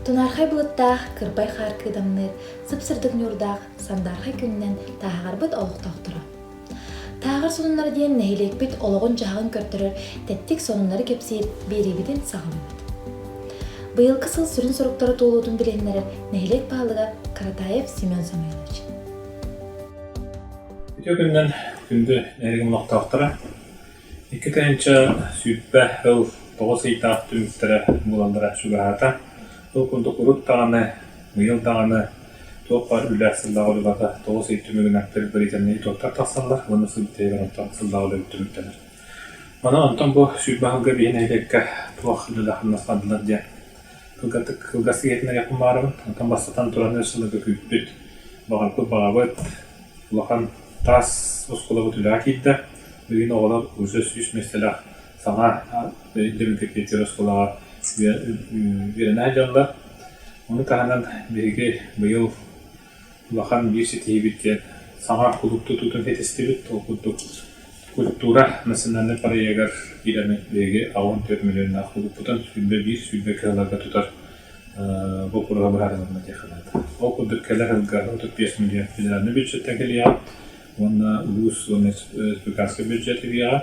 Тунархай былыттаах, кырбай хаар кыдамныыр, сып-сырдык ньуурдаах сандаархай күннэн тааһаҕарбыт олохтоохторо. Тааҕар сонуннара диэн нэһилиэкпит олоҕун-дьаһаҕын көрдөрөр тэттик сонуннары кэпсиир биэриибитин саҕаламмыт. Быйылгы сыл сүрүн соруктара туолуутун билиһиннэрэр нэһилиэк баһылыга Каратаев Семен Самойлович. Ити күннэн күндү нэригимлохтоохторо икки тыһыынча сүүрбэ ыл тоҕус ыйдаах түмүктэрэ буолаллара чугаһаата. Ол курдук урут даҕаны, быйыл даҕаны туох баар үлэлээх сыллаах үлэҕэ тоҕус ый түмүгүн аттыыр бэлиитэннэри туоттар тахсаллар уонна сыл бүтэригэр онтон сыллаах үлэ бүттүмүттэнэр. Маны онтон бу сүүрбэ аһылга биһи нэһилиэккэ туох үлэлээх хамнастаатылар диэн кылгатык кылгас иһитин айахпын баарыбын. Онтон бастатан туран өр сылга күүппүт, баҕарбыт баҕабыт, улахан таас оскуолабыт үлэҕэ киирдэ. Билигин оҕолор ууса сүүс миэстэлээх саҥа өйдөбүлгэ киирсэр оскуолаҕа үөрэнэр дьаллар. Ону таһынан биһиги быйыл улахан биир ситиһиибит диэн саҥа кулууп тутуутун ситистибит. Ол курдук культура национальнай проегар киирэн биһиги аҕыс төрт миллионнаах кулууппутун сүүрбэ биир сүүрбэ кыһаларга тутар боппуруоһа быһаарылынна диэн санаата. Ол курдук кэлэр сылга отут биэс миллион федеральнай бюджеттан кэлиэҕэ уонна улуус уонна республиканскай бюджет кэлиэҕэ.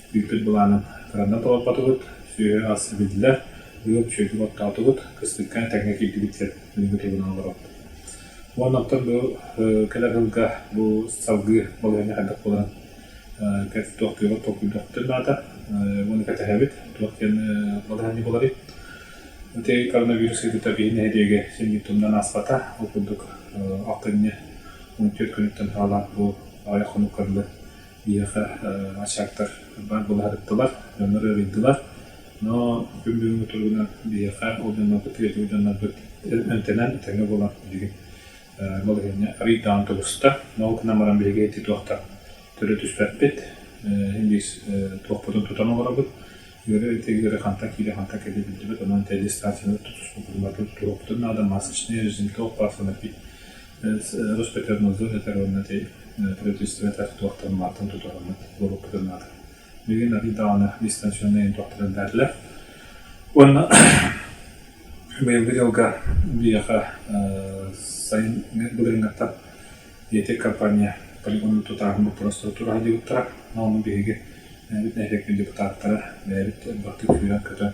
Бүппүт былаанын фроннан толорботубут, сүөһү-ас билдилэр, ыып, сүөдү боттоотубут, кыстыкка этэҥҥэ киирдибиттэр, күнүгү тугунан олоробут. Уонна оттон бу кэлэр сылга бу салгыы балаһыанньа хайдах буоларын туох түөҕэр толкуйдуохпутун наада уонна кэтэһэбит туох диэн балаһыанньа буоларый. Ити коронавирус ыйытыыта биһи нэһилиэгэ симмит тумнан ааспата, ол курдук алкынньы 14 күнүттэн саҕалаах бу аҕыйах хонук көрүллэн Биһиэхэ ачаактар баар былаһатыктылар, дьоннор ыарыйдылар. Но күн бүгүҥҥү туругунан биһиэхэ ол дьоннорбут үйэтин дьоннорбут эмтэнэн тэҥҥэ буолан билигин балаһыанньа арыйдаан тубуста. Но ол гынан баран биһиги ити туохтан төрө түспэппит, индиис туохпутун тутан олоробут, ыары ити ыары хантан киирэ, хантан кэлиэ билдибит, онон телестациянан тутуспуппутун барытын туруохпутун наада, масочные, зимток, пасханы пить Ростехнадзор этэр уонна ити правительствота туохтан мааттан тутуһаммыт буолуохпутун наада. Билигин арыый даҕаны дистанционнай туохтарын эбээтилэр. Уонна быйылгы дьылга биһиэхэ сайын былырыыҥҥаттан ИТ компания полигону тутааһын боппуруостара тураһыдьыгыттара. Онон биһиги бүтэһик депутаттара бэйэбит бастык күүрэн-көтөн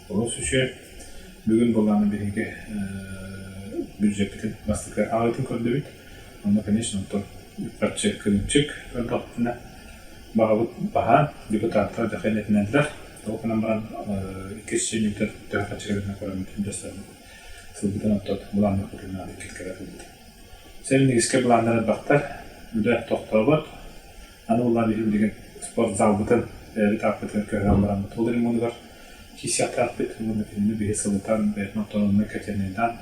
Олус үчүгэй. Бүгүн былаан биһиги бюджеппитин бастакы аҕытын көрдөбүт. Онно, конечно, оттон үп-харчы кырыымчык көрдөхпүтүнэ, баҕабыт баһаам, депутаттар да хайдатыннылар. Ол гынан баран иккис чиниутер төһө хаччыгытынан көрөммүт дьассарбыт сылбытын оттот былааннар кытыннаан иккиккэ кэлбит. Сэрин иккискэ былааннар элбэхтэр. Үлэ тохтообот. Аны ыллаан иһин билигин спортзалбытын эбит аппытыгар көһөн бараммыт. Ол ремонтугар киисиэхтээх-пит уонна кинини биһи сылытан, бэйэтин авторомнай котельнайдаан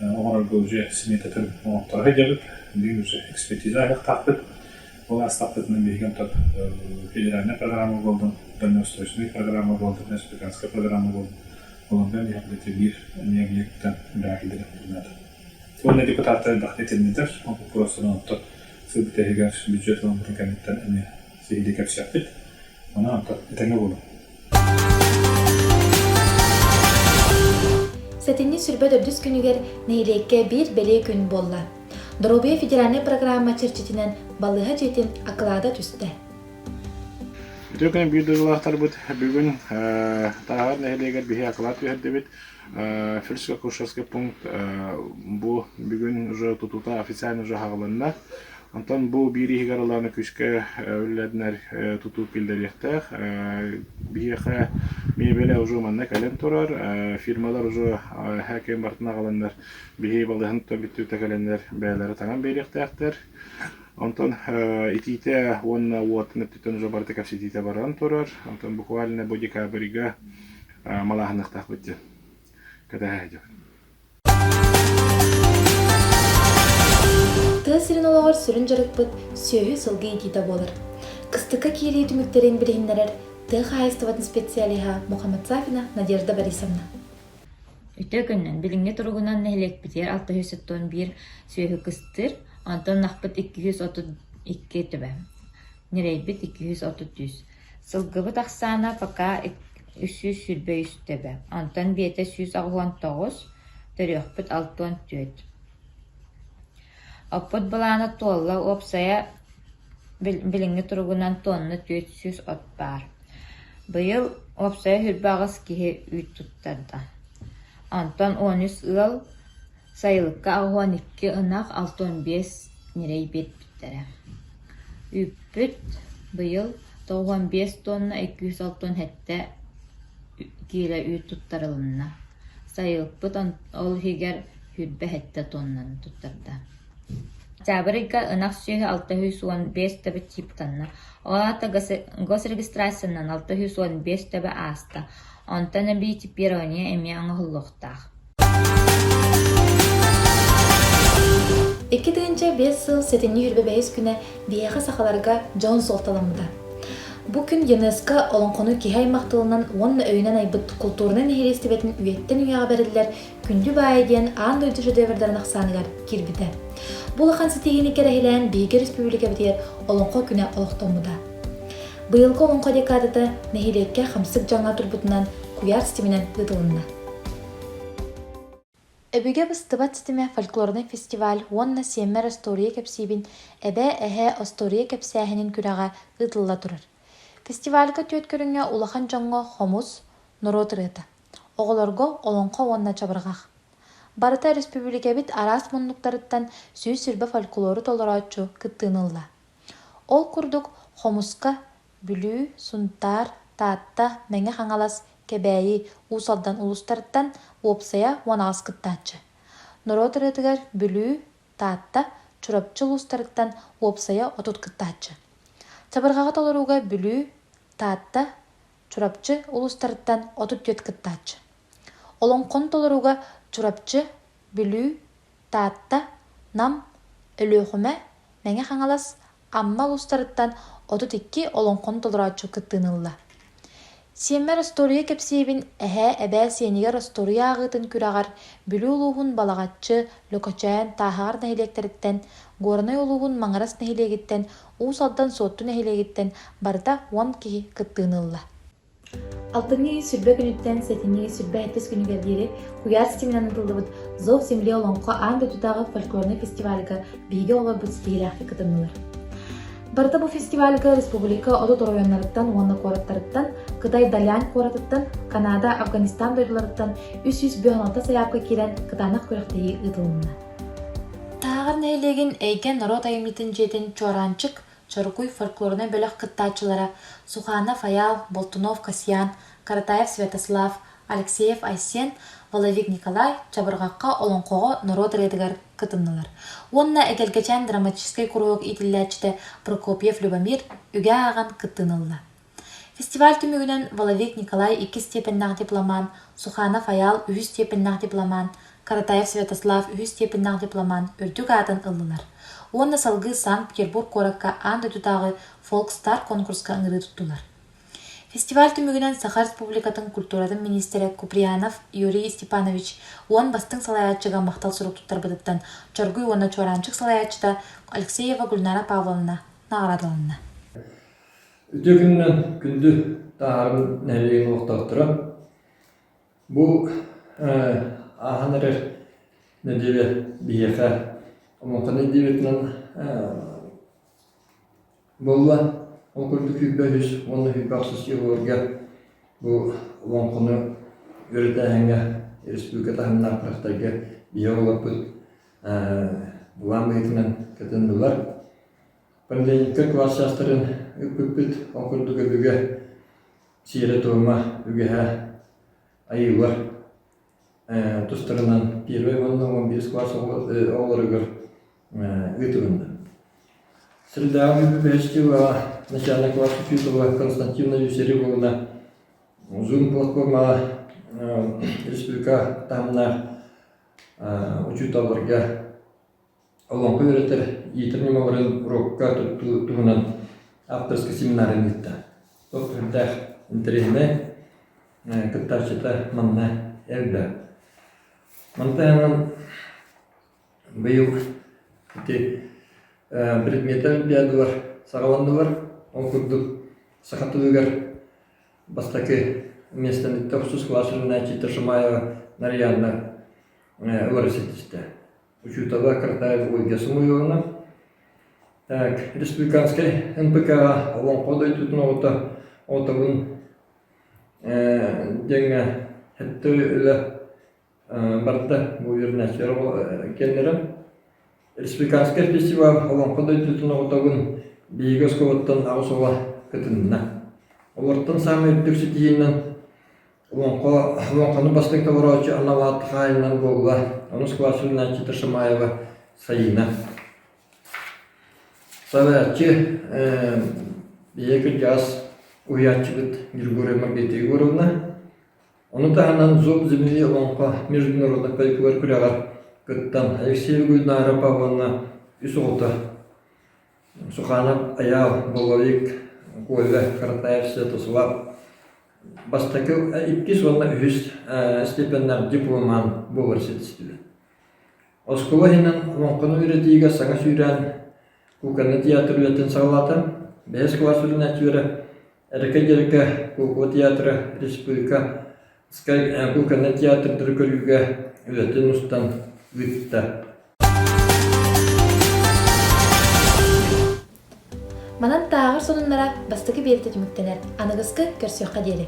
оҥорорго уже сметатын оҥорторо сылдьабыт. Билигин уже экспертиза айахтаахпыт. Ол астаппытынан биһиги онтон федеральная программа болдун, дальнеустойственная программа болдун, республиканская программа болдун. Олондан иһэн үлэтэ биир эбии объектан үлэһитилэрин наада. Уонна депутаттар элбэхтик этиннилэр, ол боппуруостарын оттор сырдык иһигэр бюджет ылыммытын кэнниттэн эмиэ сиһилии кэпсиэхпит. Онон оттор этэҥҥэ буолуҥ. Сэтинньи сүрбэ төрдүс күнүгэр нэһилиэккэ биир бэлиэ күн буолла. Доруобуйа федеральнай программа чэрчитинэн балыыһа дьиэтин акылаата түстэ. Үтүө күн биир дойдулаахтарбыт бүгүн Тааһар нэһилиэгэр биһи акылаат түһэрдибит. Фельдшерско-акушерский пункт бу бүгүн уже тутуута официально уже аҕалынна. Онтон бу биир иһигэр ылааны күүскэ үллэдинэр тутуу киллэриэхтээх. Биһиэхэ миэбэлэ уже манна кэлэн турар. Фирмалар уже эһэ кэм бартына аҕаланнар биһи балыһын тото бүттүүтэ кэлэннэр бэйэлэрэ таҥан биэриэхтээхтэр. Онтон итиитэ уонна уот өттүттэн уже барыта кэпсэтиитэ баран турар. Онтон буквально бу декабрьга малааһынныахтаахпыт диэн кэтэһэ тыа сирин олоҕор сүрүн дьарыкпыт сүөһү сылгы иитиитэ буолар кыстыкка киирии түмүктэрин билиһиннэрэр тыа хаһаайыстыбатын специалиһа Мухаммадсафина Надежда Борисовна Ити күннэн билиҥҥи туругунан нэһилиэкпитигэр 691 сүөһү кыстыыр, онтон ынахпыт 232 төбө, ньирэйбит 230. Сылгыбыт ахсаана пока үс сүүс сүүрбэ үс төбө, онтон биэтэ сүүс аҕыһыан тоҕус, төрүөхпүт алтыан түөрт. Оппут былаана туолла, уопсайа билиҥҥи туругунан туонна түөрт сүүс от баар. Быйыл уопсайа сүрбэ аҕыс киһи үүт туттарда. Онтон он үс ыал Сайылыкка аҕуһун икки ынах алта уон биэс ньирэй биэрбиттэрэ. Үүппүт быйыл тоҕуон биэс туонна иккис алтан сэттэ киилэ үүт туттарылынна. Сайылыкпыт ол иһигэр сүүрбэ сэттэ туоннаны туттарда. Октябрьга ынах сүөһү алта сүүс уон биэс төбө чыыпканна. Ол аата госрегистрациянан алта сүүс уон биэс төбө ааста. Онтон эбии чипирование эмиэ оҥоһуллуохтаах. Икки тыынча биэс сыл сэтинньи хүрбэ бэһис күнэ биһиэхэ сахаларга дьон суолталаммыта. Бу күн ЮНЕСКО олоҥхону киһи аймах тылынан уонна өйүнэн айбыт култуурунай нэһилиэстибэтин үйэттэн үйэҕэ бэриллэр Күндү баайа диэн аан дойду шедеврдэрин ахсааныгар киирбитэ. Бу улахан ситиһиини кэрэһилээн биһиги республикабытыгар Олоҥхо күнэ олохтоммута. Быйылгы Олоҥхо декадата нэһилиэккэ хамсык дьаҥҥа турбутунан куйаар ситиминэн ыытылынна. Өбүгэ быстыбат ситимэ фольклорнай фестиваль уонна Сиэммэр остуоруйа кэпсиибин Эбээ эһээ остуоруйа кэпсээһинин күрэҕэ ыытылла турар. Фестивальга түөрт көрүҥҥэ улахан дьоҥҥо хомус, норуот ырыата, оҕолорго олоҥхо уонна чабырҕах. Барыта өрөспүүбүлүкэбит араас муннуктарыттан сүүс сирбэ фольклору толорооччу кыттыыны ылла. Ол курдук, хомуска, Бүлүү, Сунтаар, Таатта, Мэҥэ Хаҥалас, Кэбээйи, Уус Алдан улуустарыттан уопсайа уон аҕыс кыттааччы. Норуот ырыатыгар Бүлүү, Таатта, Чурапчы улуустарыттан уопсайа отут кыттааччы. Чабырҕаҕы толорууга Бүлүү, Таатта, Чурапчы улуустарыттан отут түөрт кыттааччы. Олоҥхону толорууга Чурапчы, Бүлүү, Таатта, Нам, Өлүөхүмэ, Мэҥэ Хаҥалас, Амма улуустарыттан отут икки олоҥхону толорооччу кыттыыны ылла. Сиэммэр остуоруйа кэпсиэбин эһээ эбээ сиэнигэр остуоруйа ааҕыытын күрэҕэр Бүлүү улууһун Балаҕаччы, Лөкөчөөн тааһаҕар нэһилиэктэриттэн, Горнай улууһун Маҥырас нэһилиэгиттэн, Уус Алдан Суотту нэһилиэгиттэн барыта уон киһи кыттыыны ылла. Алтынньы ыйы сүүрбэ күнүттэн сэтинньи ыйы сүүрбэ сэттис күнүгэр диэри куйаас ситиминэн ыытыллыбыт Зов земле олоҥхо аан дойдутааҕы фольклорнай фестивальга биһиги оҕолорбут ситиһиилээхтик кытыннылар. Барыта бу фестивальга республика отут оройуоннарыттан уонна куораттарыттан, Кытай Далян куоратыттан, Канада, Афганистан дойдуларыттан үс сүүс бүс алта сайаапка киирэн кытаанах күрэхтэһии ыытылынна. Тааҕар нэһилиэгин Эйгэ норуот айымньытын дьиэтин Чуораанчык Чорукуй фольклорнай бөлөх кыттааччылара Суханов Айаал, Болтунов Касьян, Каратаев Святослав, Алексеев Айсен, Воловик Николай Чабырҕахха олоҥхоҕо норуот ырыатыгар кытыннылар уонна эгэлгэчээн драматическай куруһуок иитиллээччитэ Прокопьев Любомир үгэ ааҕан кыттыын ылла. Фестиваль түмүгүнэн Воловик Николай иккис степеннээх дипломаан, Суханов Айаал үһүс степеннээх дипломаан, Каратаев Святослав үһүс степеннээх дипломаан үрдүк аатын ыллылар уонна салгыы Санкт-Петербург куоракка аан дойдутааҕы Фолкстар конкурска ыҥырыы туттулар. Фестиваль түмүгүнэн Саха Республикатын культуратын министрэ Куприянов Юрий Степанович уон бастыҥ салайааччыга махтал сурук туттарбытыттан Чоргуй уонна Чуораанчык салайааччыта Алексеева Гульнара Павловна наҕараадаланна. Үтүө күнүнэн күндү тааһыран нэһилиэгин олохтоохторо. Бу ааһан эрэр нэдиэлэ биһиэхэ омоҥхоной диэбитинэн буолла. Ол курдук сүүрбэ үһүс уонна сүүрбэ охсус дьылларга бу олоҥхону үөрэтээһиҥҥэ республика таһымнаах бырахтарга биһиги оҕолорбут былаан быһыытынан кытыннылар. Поликлиникаҕа кылаас чаастарын ыыппыппыт, ол курдук өбүгэ сиэрэ-туома, үгэһэ, айыылар тустарынан первай уонна уон биэс кылаас оҕолоругар ыытылынна. Сырдааҕы бүлүү бэһэстиилэҕэ начальнай кылаас учуутала Константина Юсереповна Zoom платформаҕа республика таһымнаах учууталларга олоҥхо үөрэтэр иитэр ньымаларын урукка туттуу туһунан авторскай семинарын ыытта. Ол сүрдээх интэриэһинэй, кыттааччыта манна элбэ. Мантан быйыл ити предмети олимпиадалар саҕаланнылар. Ол курдук саха тылыгар бастакы миэстэниттэ охсус кылаачыннааччыта Шамаева Нарьяна ылары ситистэ. учуутала Картаева Ольга Самуиловна, республиканскай НПК-ҕа Олоҥхо дойдутун оҕото отовын диэҥҥэ сэттэ үлэ барда бу вернячер кэллэрэ республиканскай фестиваль Олоҥхо дойдутун оҕотобун биһиги оскуолаттан аҕыс оҕо кытынна олортон саамай үрдүк ситиһиинэн Уонко Уонканы бастыҥ толорооччу Анаваат хаайылынан буолла. Ону скважинаначчыта Шамаева Сайыына. Савааччы ийэ кырдьаҕас уһуйааччыбыт Григория Маргарита Егоровна. Ону таһынан Зоб земли Уонко международнай пайкугар күрэҕэр кыттан Алексеева Гульнара Павловна үс оҕото Суханов Айаал, Головик, Коля Харатаев Святослав Бастакы иккис уонна үһүс степеннээх дипломаан буолар ситистилэр. Оскуола иһинэн олоҥхону үөрэтиигэ саҥа сүүрээн кукольный театр үлэтин салалаата, бэһис кылаас сүрүннээччилэрэ Эрикэ-Дьэрикэ куукула театра республика кукольный театрдары көрүүгэ үлэтин устан ыытта. Манан тааҕар сонуннара бастакы биэретэ түмүктэнэр. Аныгыскы көрсүөххэ диэри.